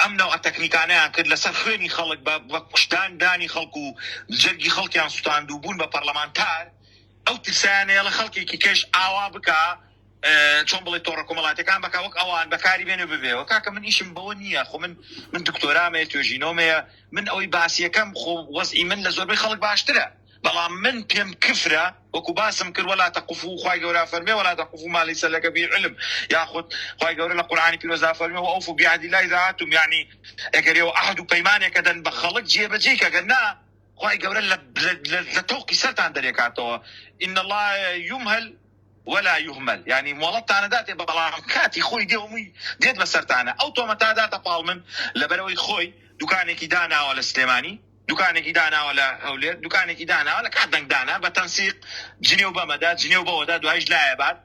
ئەم نەوعە تەکنیکانەیان کرد لەسەر خوێنی خەڵک بە کوشتدان دانی خەڵک و جەرگی خەڵکیان سوتاند و بوون بە پەرلەمانتار ئەو ترسیان هەیە لە خەڵکێکی کەش ئاوا بکا چۆن بڵێ تۆڕە کۆمەڵاتەکان بەکە وەک ئەوان بەکاری بێنێ ببێەوە کاکە من ئیشم بەوە نییە خۆ من من دکتۆرامەیە توێژینەوەمەیە من ئەوەی باسیەکەم خۆ وەزئی من لە زۆربەی خەڵک باشترە بەڵام من پێم کفرە وەکو باسم کرد ولا تقفو خوای گەورە ئەفەرمێ ولا تقفو ما لیس لک به علم یاخود خوای گەورە لە قورئانی پیرۆزدا ئەفەرمێ و اوفو بعهد الله اذا عهدتم یانی ئەگەر ئێوە عەهد و پەیمانێک ئەدەن بە خەڵک جێبەجێی کە گەر نا خوای گەورە لە لە تۆقی سەرتان دەرێکاتەوە ان الله یمهل ولا یهمل یعنی مۆڵەتتان داتێ بە بەڵام کاتی خۆی دێ هەمووی دێت بەسەرتانە ئەو تۆمەتا داتە پاڵ من لەبەرەوەی خۆی دوکانێکی داناوە لە سلێمانی دوکانێکی داناوە لە هەولێر دوکانێکی داناوە لە کات دەنگ دانە بە تەنسیق جنێو بەمەدا جنێو بەوەدا دوایش لایە بات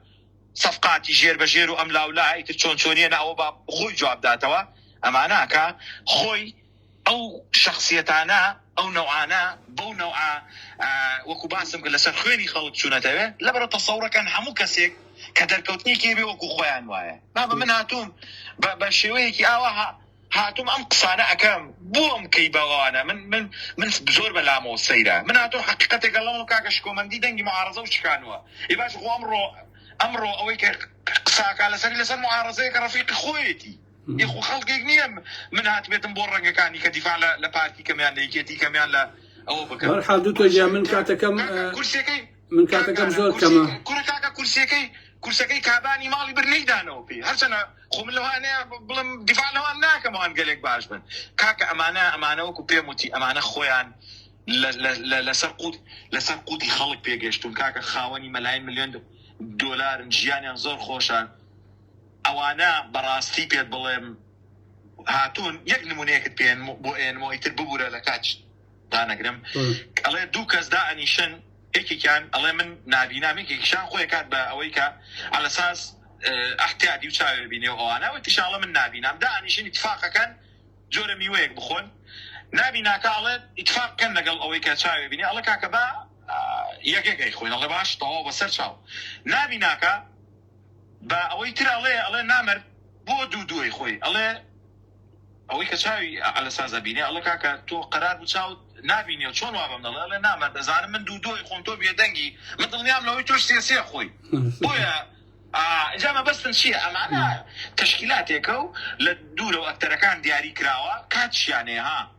سەفقاتی ژێر بە ژێر و ئەم لاولا ئیتر چۆن چۆنیە نە ئەوە با خۆی جواب داتەوە ئەماناکە خۆی ئەو شخصیتانە ئەو نەوعانە بەو نەوعە وەکو باسم کرد لەسەر خوێنی خەڵک چوونەتەوێ لەبەرە تەسەورەکەن هەموو کەسێک کە دەرکەوتنێکی بێ وەکو خۆیان وایە بابە من هاتووم بە شێوەیەکی ئاواها هاتوم ئەم قسانە ئەکەم بۆم کەی بەوانە من من من زۆر بەلامۆ سەیرە من هاتۆ حقیقەتێک ئەڵەمە کاکە شکۆمەندی دەنگی معارزە و شکانوە ی باش خۆ ئەمڕۆ ئەمڕۆ ئەوەی کە قساکە لەسەری لەسەر معارزەیە کە ڕفیقی خۆیەتی یخو خەڵکێک نییە من هات بێتم بۆ ڕەنگەکانی کە دیفاع لە پارتی کەمیان لە یکێتی کەمیان لە ئەوە بکەم حال دوو تۆ من کاتەکەم کورسەکەی من کاتەکەم زۆر کەمە کورە کاکە کورسەکەی کورسەکەی کابانی ماڵی بر نەیدانەوە پێی هەرچەنە خۆ من لەوانەیە بڵم دیفاانەوان ناکەمەوان گەلێک باش بن کاکە ئەمانە ئەمانەوەکو پێم وتی ئەمانە خۆیان لەسەر قوت لەسەر قوتی خەڵک پێگەشتون کاکە خاوەنی مەلاین ملیۆن دۆلارن ژیانیان زۆر خۆشە ئەوانە بەڕاستی پێت بڵێم هاتوون یەک نمونەیەکت پێێن بۆ ئێنمەوەی تر ببوورە لە کاچ دانەگرم ئەڵێ دوو کەس دا ئەنیشن یەکێکیان ئەڵێ من نابینام یەکێکیشان خۆی کات بە ئەوەی کە ئەلەساس ئەحتیادی و چاوێ بینێ و ئەوانەوە تیشاڵە من نابینام دا ئەنیشن اتفاقەکەن جۆرە میوەیەک بخۆن نابیناکە ئەڵێ اتفاق کەن لەگەڵ ئەوەی کە چاوێ بینێ ئەڵە کاکە با یەکێکەی خۆین ئەڵێ باش تەواو بەسەر چاو نابیناکە بە ئەوەی تر ئەڵێ ئەڵێ نامەرد بۆ دوو دووەی خۆی ئەڵێ ئەوەی کە چاوی ئەلە سازە بینێ ئەڵە کاکە تۆ قەرار بوو چاوت نبینێ چۆن وا بەم دەڵێ ئەڵێ نامەرد دەزانم من دوو دووەی خۆم تۆ بێدەنگی من دڵنیام لەوەی تۆش سێ سێ خۆی بۆیە ئینجا مەبەستم چییە ئەمانە تەشکیلاتێکە و لە دوورەوە ئەکتەرەکان دیاری کراوە کاتشیانەیە ها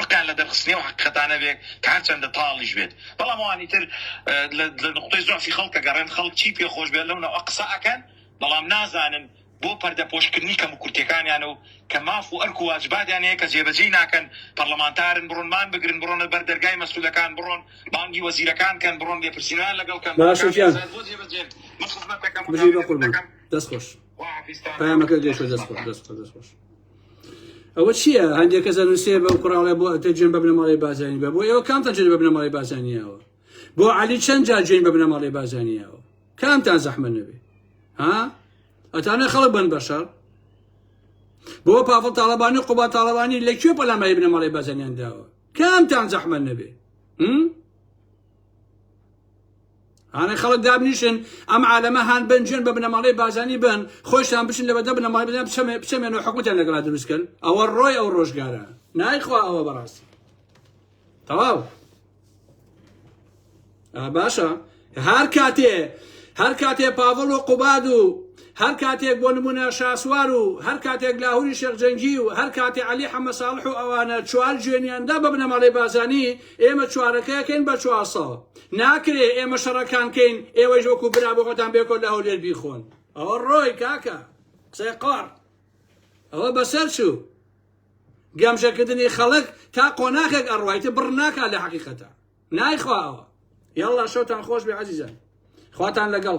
ڕقیان لە دەرخستنی ئەو حەقیقەتانە بێت کە هەرچەندە تاڵیش بێت، بەڵام ئەوانی تر لە نوقتەی زوعفی خەڵک دەگەڕێن، خەڵک چی پێ خۆش بێت لەو نەوعە قسە ئەکەن، بەڵام نازانن بۆ پەردەپۆشکردنی کەموکورتیەکانیان و کە ماف و ئەرک و واجباتیان هەیە کە جێبەجێی ناکەن، پەڕڵەمانتارن بڕۆن مان بگرن، بڕۆنە بەر دەرگای مەسئولەکان، بڕۆن بانگی وەزیرەکان کەن، بڕۆن لێپرسینەوەیان لەگەڵ کەن، باشە گیان بژی بەقوربان دەست خۆش پەیامەکەت گەیشتوە دەست خۆش دەست خۆش دەست خۆش. ئەوە چییە هەندێک کەسە نووسێ بە کوڕاڵێ بۆ تەجێن بە بنەماڵی بازانی بە بۆ ئێوە کام تەجێن بە بنەماڵی بازانیەوە بۆ علی چەند جا جوێن بە بنەماڵی بازانیەوە کامتان زەحمە نەبێ ها ئەتانە خەڵک بن بەشەر بۆ پاڤڵ تاڵەبانی قوبا تاڵەوانی لە کوێ پەلاماری بنەماڵی بازانیان داوە کامتان زەحمە نەبێ ئەڵێ خەڵک دابنیشن ئەم عالەمە هان بنجێن بە بنەماڵەی بازانی بن خۆشتان بچن لەبەدە بنەماڵی بدەن بچەمێ بچەمێن و حکوتیان لەگەڵا دروستکەن ئەوە ڕۆی ئەو ڕۆژگارە نایخوا ئەوە بەڕاستی تەواو باشە هەر کاتێ هەر کاتێ پاڤڵ و قوباد و هەر کاتێک بۆ نمونە شاسوار و هەر کاتێک لاهوری شێخجەنگی و هەر کاتێ علی حەمە ساڵح و ئەوانە چوار جوێنیاندا بە بنەماڵی بازانی ئێمە چوارەکەکەین بە چوار ساڵ ناکرێ ئێمە شەڕەکان کەین ئێوەش وەکو برا بۆ خۆتان بێکۆ لە هەولێر بیخۆن ئەوە ڕۆی کاکە قسەی قۆڕ ئەوە بەسەر چوو گەمژەکردنی خەڵک تا قۆناخێک ئەڕوایتە بڕ ناکا لە حەقیقەتە نایخواوە یاڵا شەوتان خۆش بێ عزیزان خواتان لەگەڵ